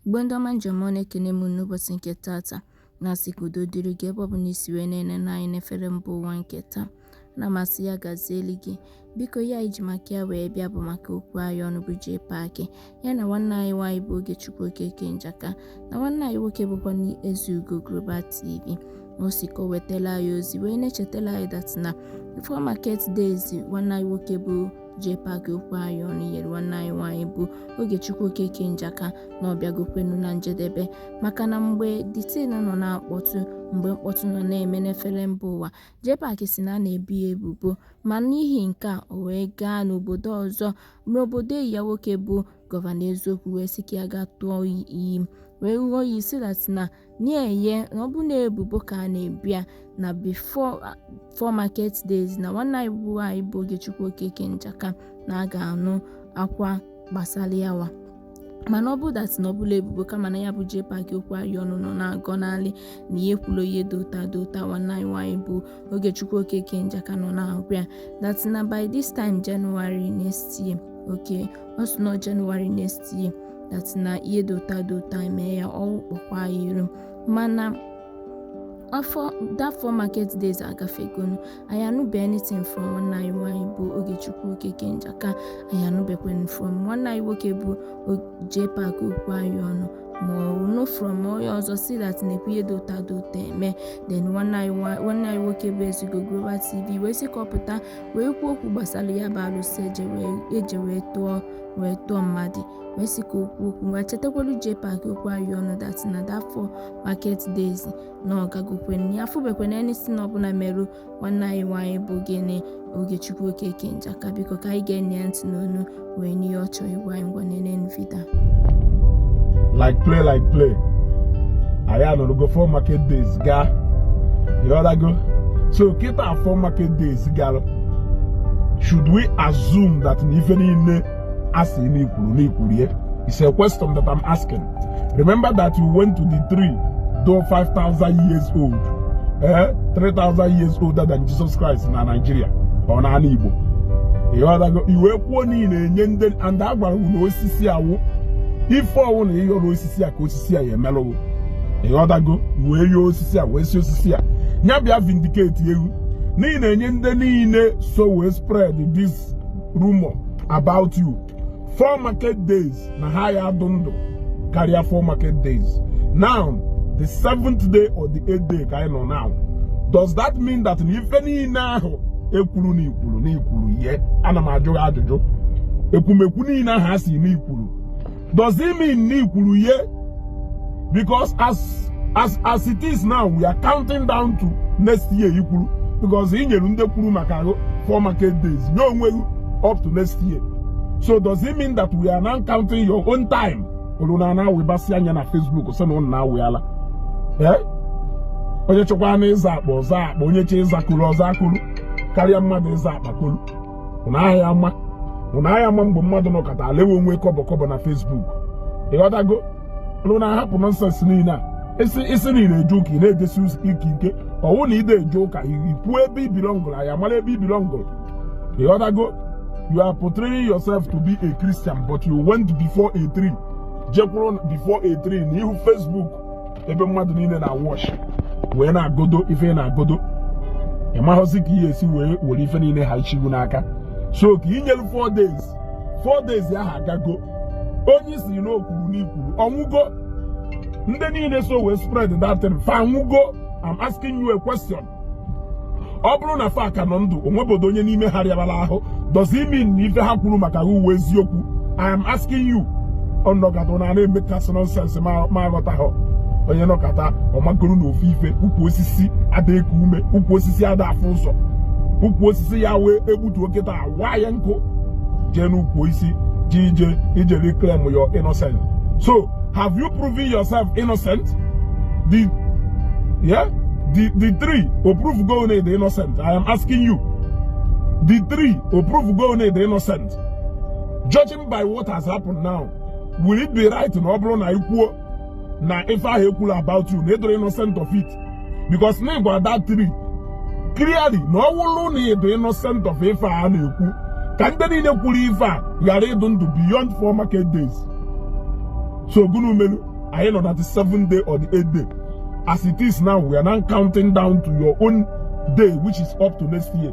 Igbo ndị ọma ndị e ji eme ọnụ ekene m unu n'ụbọchị nke tata na-asị ka udo dịrị gị ebe ọ bụla i si wee na-enene anyị n'efere mba ụwa nke taa ana m asị ya gazieli gị biko ihe anyị ji maka ya wee bịa bụ maka okwu anyị ọnụ bụ Jpac ya na nwanne anyị nwaanyị bụ Ogechukwu Okeke Njaka na nwanne anyị nwoke bụkwa Ezeugo Global TV ọ sị ka o wetala anyị ozi wee na-echetala anyị that na ife four market days nwanne anyị nwoke bụ Jpac okwu anyị ọnụ nyere nwanne anyị nwaanyị bụ Ogechukwu Okeke Njaka na ọ bịagokwenu na njedebe maka na mgbe the thing nọ na-akpọtụ mgbe mkpọtụ nọ na-eme n'efere mba ụwa Jpac sị na a na-ebu ya ebubo ma n'ihi nke a o wee gaa n'obodo ọzọ Mgbe obodo enyi ya nwoke bụ Governor Eziokwu wee sị ka ya ga tụọ iyi wee ṅụọ iyi sị that na na-eye na ọ bụ na ebubo ka a na-ebu ya na before four market days na nwanne anyị nwaanyị bụ Ogechukwu Okeke Njaka na a ga-anụ akwa gbasara yawa mana ọ bụrụ that na ọ bụla ebubo kama na ya bụ Jpac okwu anyị ọnụ nọ na-agọnalị na ya ekwulọ ihe dị otu a dị otu a nwanne anyị nwaanyị bụ Ogechukwu Okeke Njaka nọ na-agwa ya that na by this time January next year okay ọ sị na January next year that na ihe dị otu a dị otu a mee ya ọwụ kpọkwa ya iru mana that four market days agafegonụ anyị anụbe anything from nwanne anyị nwaanyị bụ Ogechukwu Okeke Njaka anyị anụbekwanụ from nwanne anyị nwoke bụ Jpac okwu anyị ọnụ ma nụ from onye ọzọ sị that nekwa ihe dị otu a dị otu a eme then nwanne anyị nwoke bụ Ezeugo Global TV wee sị ka ọ pụta wee kwuo okwu gbasara ya bụ alụsị e je wee tụọ wee tụọ mmadụ wee sị ka o kwuo okwu wee chetakwara Jpac okwu anyị ọnụ that na that four market days na ọ gagokwanụ ya afụbekwanụ anything ọbụla merụ nwanne anyị nwaanyị bụ gịnị Ogechukwu Okeke Njaka biko ka anyị geenụ ya ntị n'ọnụ wee nụ ihe ọ chọrọ ịgwa anyị ngwa nenenụ video like play like play anyị anọrọgo four market days gaa ị ghọtago so kịta four market days gara should we assume that na ife niile a sị na i kwuru na i kwuru ya is a question that I'm asking remember that you went to the tree though 5000 years old eh 3000 years older than Jesus Christ na Nigeria or na ala Igbo ị ghọtago i wee kwuo niile enye ndị and a gwara ghị na osisi a wụ ife ọ wụna ị yọrọ osisi a ka osisi a ya-emerụ ghị ị ghọtago wee yọọ osisi a wee sị osisi a nya bịa vindicate ghị n'ihi na-enye ndị niile so wee spread this rumor about you four market days na ha ya adụ ndụ karịa four market days now the seventh day or the eighth day ka anyị nọ now does that mean that na ife niile ahụ ekwuru na ikwuru na ikwuru ihe ana m ajụ gị ajụjụ ekwumekwu niile ahụ a si na ikwuru does it mean na ikwuru ihe because as as as it is now we are counting down to next year i kwuru because i nyere ndị kwuru maka gị four market days nye onwe gị up to next year so does it mean that we are now counting your own time olu na ana webasị anya na Facebook so na ụnụ na-awị ala eh? onye chọkwanụ ịza akpa ọ za akpa onye chọ ịza kolu ọ za kolu karịa mmadụ ịza akpa kolu ụna aya ama ụna aya ama mgbe mmadụ nọkata alewe onwe kọbọ kọbọ na Facebook ịghọtago ụna ahapụ nonsense niile a ị sị ị sị na ide eje ụka ị na-ejesi ụka ike ọ wụ na ide eje ụka i kwuo ebe ị belongụrụ anyị amara ebe ị belongụrụ ịghọtago you are portraying yourself to be a Christian but you went before a tree jekwuru before a tree na ihu Facebook ebe mmadụ niile na-awatch wee na-agọdo ife ị na-agọdo ị maghọzi ka ihe esi wee were ife niile ha ichigu n'aka so ka i nyelu 4 days 4 days ahụ agago onye ị sị na o kwuru n'ikwuru ọ nwụgo ndị niile so wee spread that thing fa anwụgo I'm asking you a question ọ bụrụ na fa ka nọ ndụ o nwebodo onye n'ime ha rịabala ahụ does it mean na ife ha kwuru maka gị wụ eziokwu I am asking you ọ nọkata na ana emekasị nonsense ma aghọtaghọ onye nọkata ọ makoro na ofu ife ukwu osisi ada eku ume ukwu osisi ada afụ ụzọ ukwu osisi ya wee egbutu oke taa waa ya nkụ jee n'ukwu isi ji ije ije reclaim your innocence so Have you proven yourself innocent? The, yeah? The, the tree, o provego na ị dị innocent. I am asking you. The tree, o provego na ị dị innocent. Judging by what has happened now, will it be right na ọ bụrụ na e kwuo na ife ahụ ekwuru about you na ị dịrọ innocent of it? because na ị gwa that tree clearly na ọ wụrụ na ị dụ innocent of ife a na-ekwu ka ndị niile kwuru ife a ghara ịdụ ndụ beyond four market days so gụnụ melu anyị nọ na the seventh day or the eighth day as it is now we are now counting down to your own day which is up to next year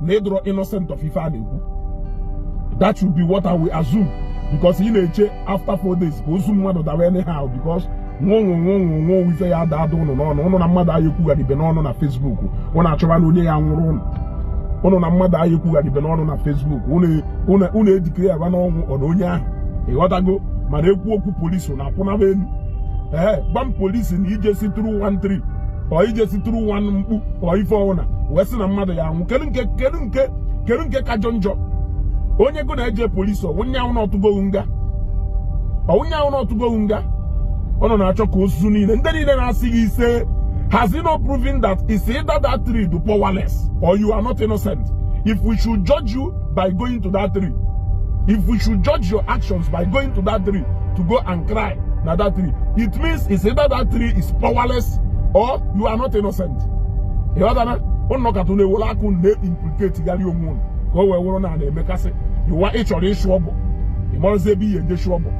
na ị dọrọ innocent of ife a na-ekwu that should be what I will assume because ị na-eche after four days ka ozu mmadụ dawa anyhow because nwonwo nwonwo nwonwo ozu ya ada ada ụnụ n'ọnụ ụnụ na mmadụ ayị ekwugharibe n'ọnụ na Facebook ụnụ achọwa na onye ya nwụrụ ụnụ ụnụ na mmadụ ayị ekwugharibe n'ọnụ na Facebook ụnụ edeclarewa n'ọnwụ ọ na onye ahụ ịghọtago mana ekwu okwu polisi na akwụnaba elu ee gwa m polisi na ije si tru 13 or ije si tru 1 mkpu or ife ọwụna wee sị na mmadụ ya anwụ kedu nke kedu nke kedu nke kajọ njọ onye go na-eje polisi ọ wụ nya wụ na ọ tụgo gị nga ọ wụ nya wụ na ọ tụgo gị nga ọ nọ na-achọ ka ozu niile ndị niile na-asị gị ise has he not proven that it's either that tree dụ powerless or you are not innocent if we should judge you by going to that tree if we should judge your actions by going to that tree to go and cry na that tree it means it's either that tree is powerless or you are not innocent ịghọtana ụnụ kata unu ewere aka unu na-implicate gharị onwe unu ka o wee wụrụ na na-eme ka asị iwa ị chọrọ ịchụ ọbụ ị marazi ebe ị ya eje chụ ọbụ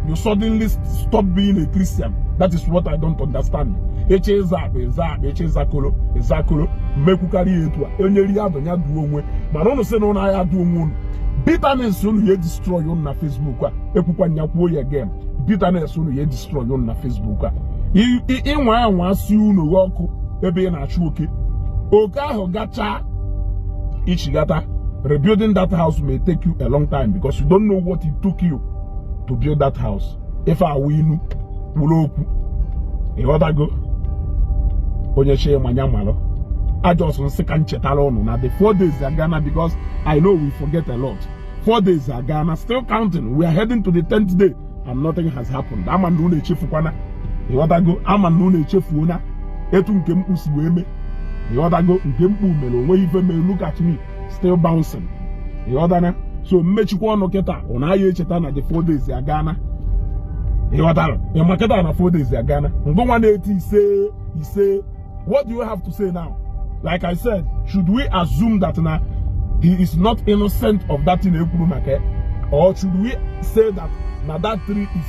you suddenly stop being a Christian that is what I don't understand eche ịza akpa ịza akpa eche ịza koro ịza koro mmekwukarị ya etu a onye ri ya bụ ya duo onwe mana ụnụ sị na ụnụ aya duo onwe ụnụ bitterness ụnụ ya destroy ụnụ na Facebook a ekwukwa nya kwuo ya again bitterness ụnụ ya destroy ụnụ na Facebook a ịnwa anwa si ụnọ gị ọkụ ebe ị na-achụ oke oke ahụ gachaa ichighata rebuilding that house may take you a long time because you don't know what it took you to build that house ife a wụ inu kwuru okwu ịghọtago onye chi manya malụ I just sị ka m chetara ụnụ na the four days agana because I know we forget a lot four days agana still counting we are heading to the tenth day and nothing has happened ama na unu echefukwana ịghọtago ama na unu echefuona etu nke mkpu si wee mee ịghọtago nke mkpu mere onweghị ife mere look at me still bouncing ịghọtana so m mechikwa ọnụ kịta ụnụ aya echeta na the four days agana ịghọtara ịma kịta na four days agana ngịnwa na-eti ise ise what do you have to say now like i said should we assume that na he is not innocent of that thing ekwuru maka or should we say that na that tree is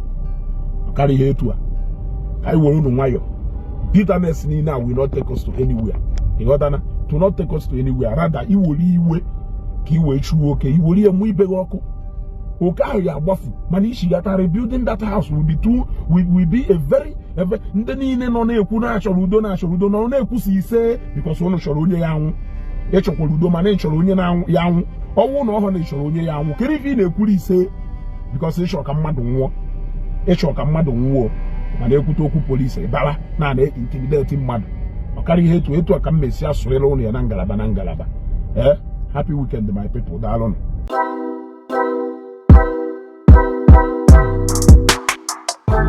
karịa ihe etu a ka anyị were unu nwayọọ bitterness niile a will not take us to anywhere ịghọtana it will not take us to anywhere rather iwere iwe ka i wee chụọ oke iwere ya mụ ibe gị ọkụ oke ahụ ya agbafu mana ichighata rebuilding that house will be too will be a very ebe ndị niile nọ na-ekwu na achọrọ udo na achọrọ udo nọ na-ekwusi ise because ụnụ chọrọ onye ya anwụ ịchọkwara udo mana ị chọrọ onye ya anwụ ọnwụ na ọ wụrụ na ị chọrọ onye ya anwụ kedu ife ị na-ekwuru ise because ịchọ ka mmadụ nwụọ ịchọ ka mmadụ nwụọ mana ekwute okwu polisi bara na a na-intimidate mmadụ ọ karịa ihe etu etu a ka m mesi asụrịla ụnụ ya na ngalaba na ngalaba ee eh, happy weekend my people daalụnụ